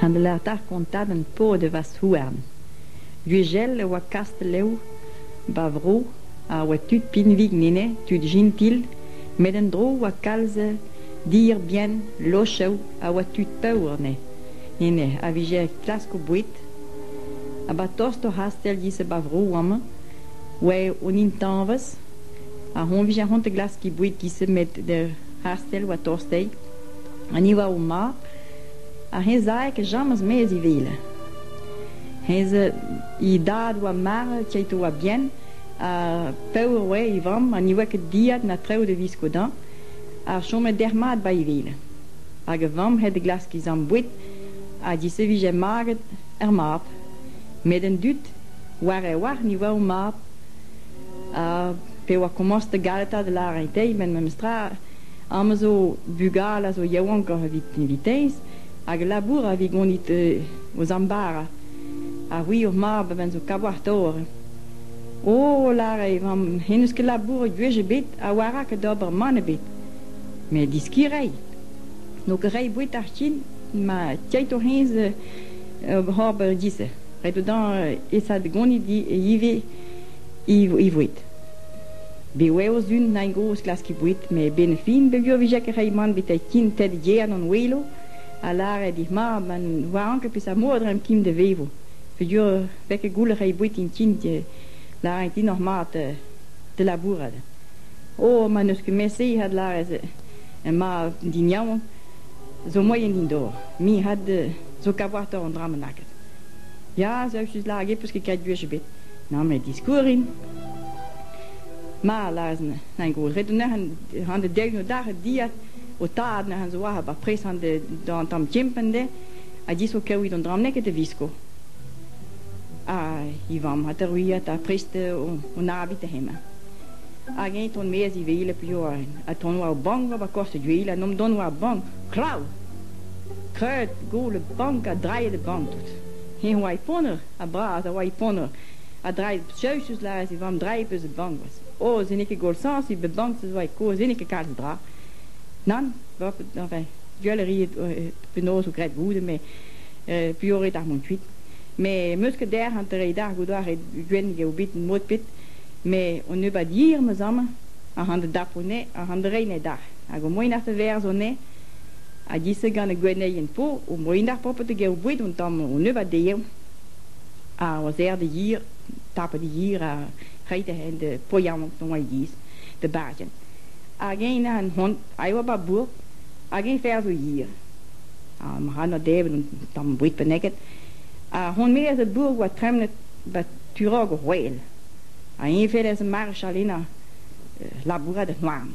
Heñvelerta kontadenn paotr e vazh-houarn. Gwechall e oa Kastell-Lev 'ba vro a oa tud pinvik enne, tud jintil, met en-dro oa kalz dierbien, lochev a oa tud paour enne, enne a vije klask o boued. Ha 'ba tost d'hor c'hastell giz-se 'ba vro amañ oa hon intañvez ha hoñ vije c'hoant da glask he boued giz-se met d'hor c'hastell oa tost dezhi ha ni oa o mab. Ar c'hezeg a chomas maez e wele. He- he dad a oa marvet, Tito a Bien, ha paour oa e vamm ha ne oa ket dieet na traoù da viskoutañ, a chome derc'h-mat bai e wele. Hag e vamm he deglaske e zamm boued ha disevije maget er mab. Met an dud, war e wrac'h, ne oa o mab. Ha pa oa komañs da galetaat da lâret dezhi, met memestra, Amañ zo bugale a zo yaouankoc'h evit invitañs hag labour a vez gonit o zambara. Ha c'hwi ho mab a ven zo kaouatoc'h. O lâret e vamm hen eus ket labouret gwech ebet ha war rak d'ober mann ebet. Met deskiñ reiñ. N'o ket reiñ boued ar fin ma tiaito hennezh ober dizh. Ret eo dezhañ esa da gonit ivez e voued. Bev eo Sun Nain gozh klaskiñ boued met e-benn fin peogwir e vije ket reiñ mann betek tin ted yer an welo a lâre dit mat ma ne oaran ket peseurt mod reiñ tin da vevo peogwir vez ket goullet reiñ boued tintin e lârin din oc'h mat da labourat. Oh ma n'eus ket met-se hat lâret emañ din yaouank zo moaien din dor me hat zo kaouatoc'h an dra mannaket. Ya, zo just lâret get peus ket kavet gwech ebet. Na met diskourrin. Ma a lâras an gozh ret neuze an dek noudare dilhad ho tad neuze zo war ar bapres d'an tamm kempenn dezhe a disko kaout an dra neket a visko. Ha he vamm ha teruilhat ha prest hon abit hemañ. Hag eñ ton-maez ivez piv ha ton war ar bank war korz gwel ha nomp dont war ar bank kraou! Kreud, gol, bank ha drailhet a bank tout. Eñ a oa e ponner. ha bras a oa e ponor. Ha draezh Zeus eus lâret e vamm draezh eus e bankvas. O, se n'eo ket goulsañs, bet bankvez a oa e kozh, se n'eo ket kalz a dra. Nann, enfin, gwell a ri penaos zo graet goude, met euh, puoret ar mont kuit. Mais meus ket dec'h an treiñ d'ar goudo ar re gwenn eo bet mod pet, mais on nebeut hir ma zamm, a ran da dapo ne, a ran da reiñ ne d'ar. Hag au moins ar te verz on ne, ha dise gant ar gwenneien po o moen ar propet da gaout boued un tamm o nebeut dezhañ ha o serr da hir tapet da hir ha reiñ da hen da poiañ dont e-giz da bajenn hag eñ an hont a yoa ba bourk hag eñ fer zo hir ha ma ra na devet un tamm boued benneget ha hon-me eus ar bourk oa tremenet ba turog o c'hwel ha eñ fellas ar mare chalennañ labourat an houarn.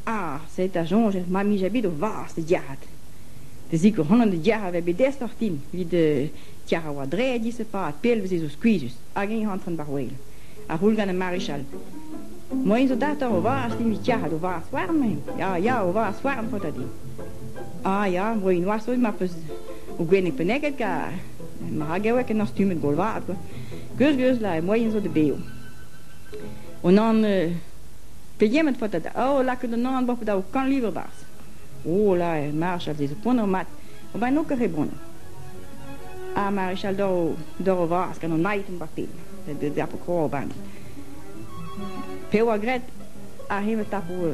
Ah, sed da soñj eo ma 'mije bet o vazh da diarrêt. Da zikour honan da diarrêt a vez bet dest doc'htu evit diarrêt war draed dizipad pell 'veze zo skuizhus hag eñ antren war-wel. Ar c'houl gant ar marichal. Moain zo datoc'h o vazh evit diarrêt o vazh houarn-eñ. Ya, ya, o vazh houarn faota din. Ah ya, moain noazh 'zo ma 'peus o gwenneg penneget kar. Maragewek en doa stummet gol vat kwa. Geus, geus, la moain zo da bev. O nann... Pegement faota da oh lakaat an anv da ho kant livr barzh? Oh là, Marchal, se zo poanv mat, va n'ho ket re boan. Ha Marichal dor o, dor o vras gant an naet martin, de zapo kroban. Pe oa gret, a him tapo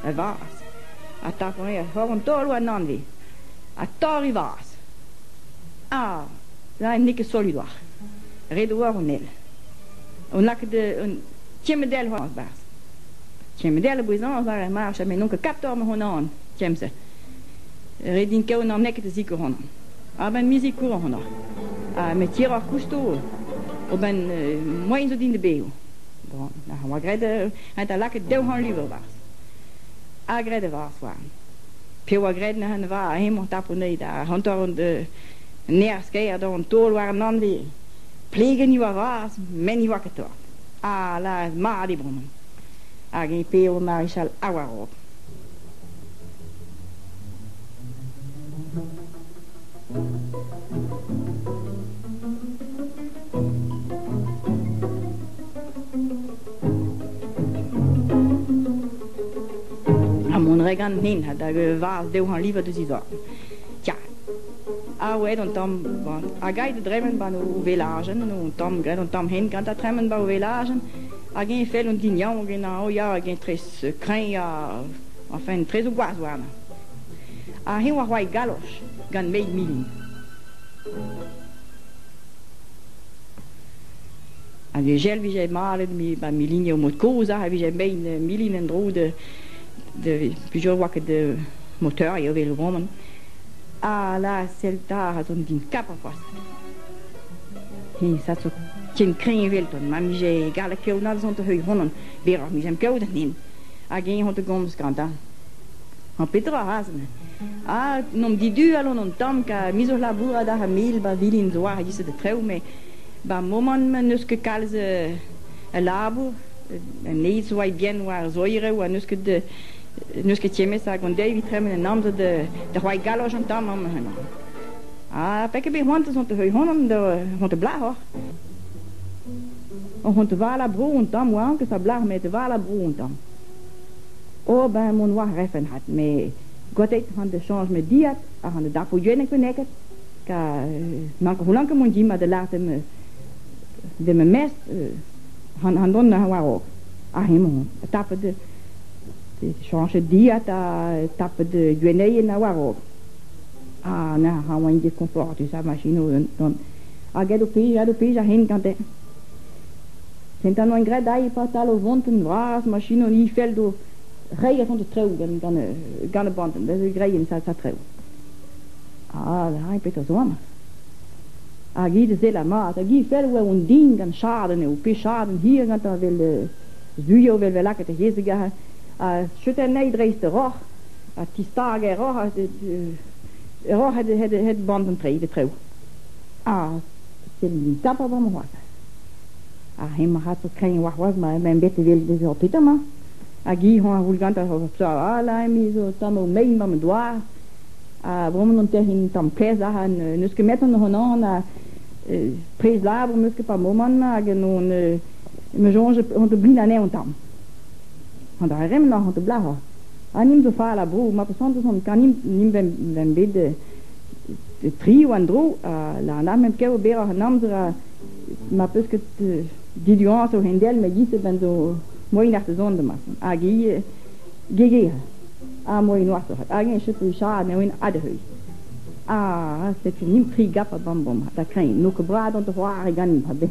e vras, a tapo e hor an tolo an anvi, a tor i vras. Ah, la n'eo ket solidwar. Ret oa an el. On lakaat un Tiemedell war barzh. Tiemedell a bouez-hañv war ar march ha me n'on ket kator ma hon-an, tiemze. Ret din kaout n'am neket a zikour honañ. A-benn mizikour honañ. Ha me tiroc'h kousto a-benn moaien zo din da bev. Bon, a oa graet a da lakaat daou c'hant lur a-barzh. Ha graet a-varzh oa. Pe oa graet neuze va hemañ tapout neuze da hanter an nerzh-kaer d'an taol war an anvez. Plegenn e oa vras, met ne oa ket torr. Ah la, mat eo bremañ. Hag eñ p'eo Marichal ha war-raok. Ha mont 'ra ganin hag e vaz dezhañ livañ deus e zorn. Ya. Ah ouais, an tamm, bon, hag aet da dremen ba o velajenn, o tamm, graet an tamm hent gant da tremen ba o velajenn, hag eñ fell an din yaouank en-hañ, oh ya, hag eñ tres kreñv, ha enfin tres o gwaz warnañ. Ha eñ oa c'hoazh galoch gant meizh milin. Hag e jel vije malet ba milin o mod-kozh a vije mein milin en-dro da da plusieurs oa ket de moteur eo evel e voman. Ala, sell 'ta, ra zon din kap a-forzh. He, sa zo ken kreñv eveldon, ma mije gallet kaout all zon da heuilh honan, berroc'h mijem kaout anin. Hag eñ hon da gomz gantañ. Ha petra razh-me? Ah, n'omp diduallon an tamm ka mizour labourat ar familh ba vilin zo war e-giz da trev, met ba momant-mañ n'eus ket kalz a labour. An eizh oa bien war zoirev ha n'eus ket n'eus ket tiemmet hag an deiz evit tremen en amzer da roi galoj an tamm amañ hemañ. Ha pe ket bet c'hoant on te heuilh honan da on te blac'hoc'h. On te val a bro an tamm oa anket a blac'h me te val a bro an tamm. O ben mon oa refen hat me gotet han de change me diat a han de dapo jenek beneket ka mank holanke mon di ma de latem de me mes han han don na war ok a hemon tap de chañjet dilhad ha tapet gwenneien a-war-raok. Ha neuze a oain diskoñfortus ar masinoù gant hag aet o plijañ o plijañ hin gante. Kentan oan graet aze patal o vont un vras masino ifel d'o reiñ a-hont d'o treoù gant gant gant ar bantenn da zigrein sa sa treoù. Ha aze petra zo amañ? Hag hi da sellañ mat hag ifel oa on din gant chadenn eo pe chadenn hir gantañ evel zu eo vel 'vel lakaat he yezh ha cheutu anezhi dreist ur roc'h ha tistaga e roc'h e roc'h het bant an treid e trev. Ha sellit tapet omp c'hoazh. Ha hemañ a-ratozh kreñv warc'hoazh ma emañ bet evel bez hopitañ-mañ. Hag hi hoñ a c'houl gantañ o tchal emi zo tamm o mein mamm en doar. Ha bremañ on tec'hin tamm kaezh ac'han n'eus ket 'met hon honnazh na prez labour 'm eus ket pa momant-mañ hag on Me soñj on te blin anezhañ tamm. An dra re-mañ on te blac'hañ. Ha nimp zo fall a bro. Ma pasantouz on kanimp nimp vemp bet tri en-dro ha lannamp hep kaout berroc'h an amzer ha ma peus ket diduañs a-hend-all met gis ben zo moaien ar sezon da mason hag ivez gegere ha moaien oasoc'h. Hag eñ echu saat neo'int adreuil. Ha setu nimp tri gap a bam bom. Da kreñv n'eo ket bras on te c'hoari ganimp a-bez.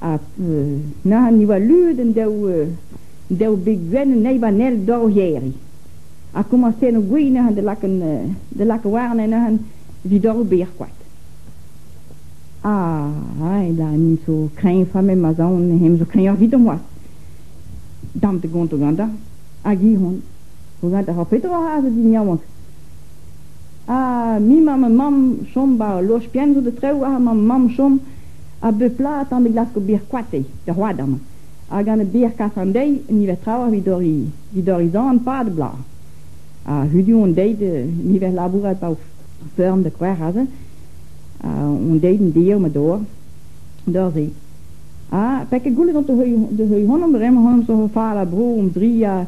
ha na ni oa leun an daou daou beg gwenn an eil an eil dor o c'hêriñ ha komañset o gwin neuze da lakaat da lakaat warne neuze evit dor ober koad. A'añ da ni zo kreñv familh ma zaon hemañ zo kreñv evidomp c'hoazh. Dam da gont o gañdañ hag Ihon o gañdañ ha petra a zo din yaouank. Ha me 'mañ ma mamm chom 'ba ur loch-prenn zo da traoù ha ma mamm chom. A bep bloaz e tamm e glasko bier koatez er hoadan, ha gant bier kas an deiz e niver traoù evit dorri evit dorri zant-pad e bloaz. Ha hudu hon deiz e niver labourat pa feurm da c'hwec'h aze, ha hon deiz en dizh eo ma dor, dor-se. Ha pa ket goullet on da heuilh da heuilh honomp bremañ honomp zo fal ha bro hom zria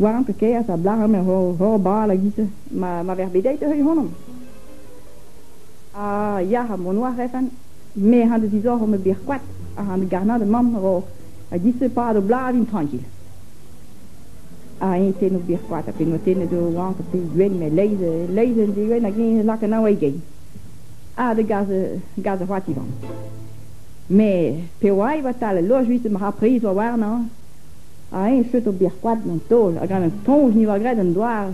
war an kaers a blaromp er hor hor bal a giz ma ma vec'h bet deiz da heuilh honomp. Ah ya, ha mont oa Refan, me han deus disoc'h ome bet koad, ha han garnad mamm ro ha disepad o blavin trankil. Ha eñ tennoù bet koad, ha penaos tennet eo oañ, pe gwenn, met leizh leizh en degwenn hag eñ lakaat nav e gein. Ha da gas gas da c'hoat Ivan. Mais pe oa va tal al loch viste ma ra priz oa warnañ, ha eñ cheut o bet koad an taol, hag an toñj ni oa graet an doare,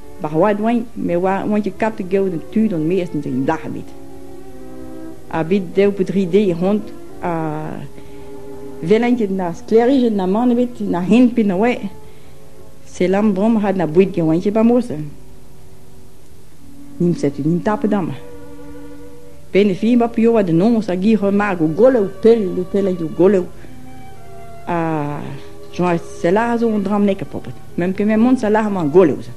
Ba c'hoad oain me oan ket kavet kaout tud on maez en deus dalc'h ebet. Ha bet daou pe dri deiz c'hoant ha welan ket na sklêrijenn na mann ebet na hen pe na oa. Selam brom rak na boued ket oan ket ba mos. N'int setu n'int tapet amañ. Penn e fin ba p'eo da noz hag hi remark o goloù pell o pellañ o goloù. Ha soñj selar zo an dra-mañ e Pobod. Ma'm keme mont salaramañ goleuz.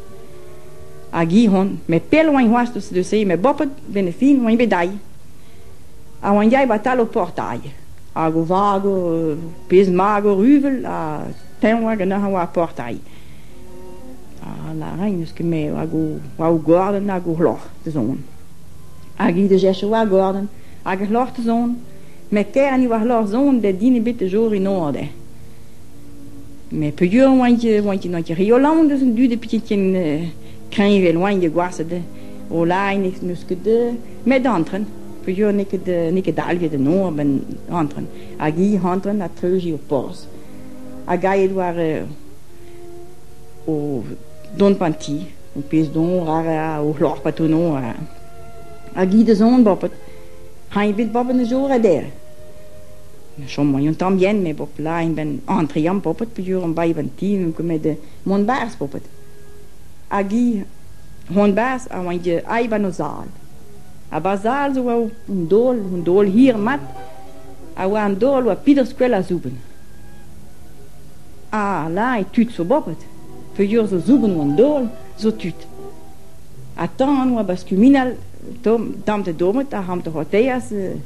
Hag hi on, met pell oañ c'hoazh deus se, met bopet ben e fin oañ bet dailh. Ha oañ yaet 'ba tal ho portail. Hag o vag o pezh mag o ruvel ha teñv oa ganeoc'h a oa ar portail. Ha lârin n'eus ket me hag o oa o gordenn hag o c'hloc'h da zont. Hag hi da chechañ war gordenn hag ar c'hloc'h da zont, met kaer 'ni war c'hloc'h zont bet din ebet da jour en or dezhe. Mes peogwir oan ket oan ket n'oa ket re Holland eus an dud p'eo ket ken kreñv evel oan ket gwashet. Olain n'eus ket met antren peogwir n'eo ket n'eo ket dalvet en nor a-benn antren hag hi antren ha treuzi ur porzh hag aet war o dont p'an ti o pezh don o c'hloc'h pa tono hag hi da zont babet. Hein ebet babet neus zo ret dezhe. chom eo un tamm yen met bob laen 'benn entreñ an poped peogwir on bae 'benn ti n'on ket met mont 'barzh poped hag hi c'hoant 'barzh a oa int aet 'ba 'n o zal ha 'ba zal zo oa un daol un daol hir mat a oa an daol oa pedaos gwell a-zouben ha lañ tud zo boped peogwir zo zouben oa an daol zo tud ha tan oa 'ba skuminal tomm damp da dommed ha c'hamp da c'hoateas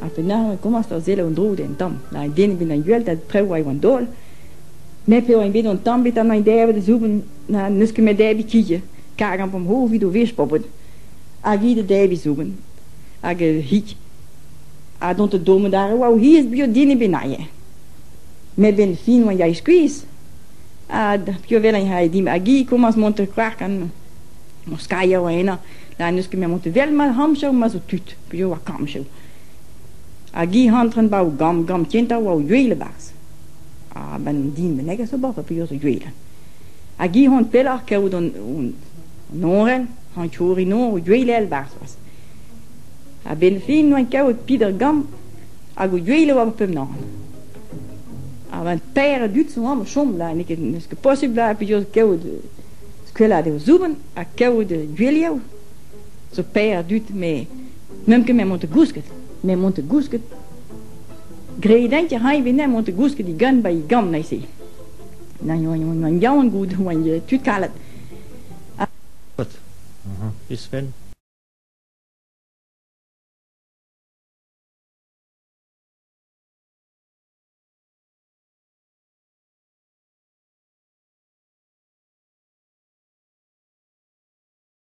Ha penaos e komañs da selaou an droug d'an tamm. Nag an den evit na gweldad traoù a eo an daol. Met p'eo eñ bet an tamm e ta-mañ dezhañ da zouben na n'eus ket met debriñ kign. Kargañ va mor evit o wech poblet. Hag hi da debriñ zouben. Hag hig. Ha dont da dommañ d'ar re oa o c'hiz bio den ebet n'aie. Met 'benn fin oa yae skuizh. Ha piv a wel eñ c'hae dimp. Hag hi komañs mont da c'hoarkan. Ur skailher oa henañ. Na n'eus ket met mont da wel ma c'hamzer ma zo tud. Piv oa kammchev? Hag hi antren 'ba o gamm, gamm kentañ oa o yuil e-barzh. A-benn an din bennak a zo 'ba piv a zo yuil. Hag hi c'hoant pelloc'h kaout an an orenn, an kourin noz o yuilañ e-barzh c'hoazh. A-benn fin 'oa kavet Pider Gamm hag o yuilañ war pemp-nor. A-benn teir a dud zo amañ o chom la, n'eo ket n'eus ket posubl la piv zo kaout skeuladeg o zoubenn ha kaout yuilhav. zo paeer a dud met n'eump ket met mont da gousket met mont da gousket gredent a ray venne mont da gousket digant ba e gamm neuze na oan yaouank out oan tud kalet Isfel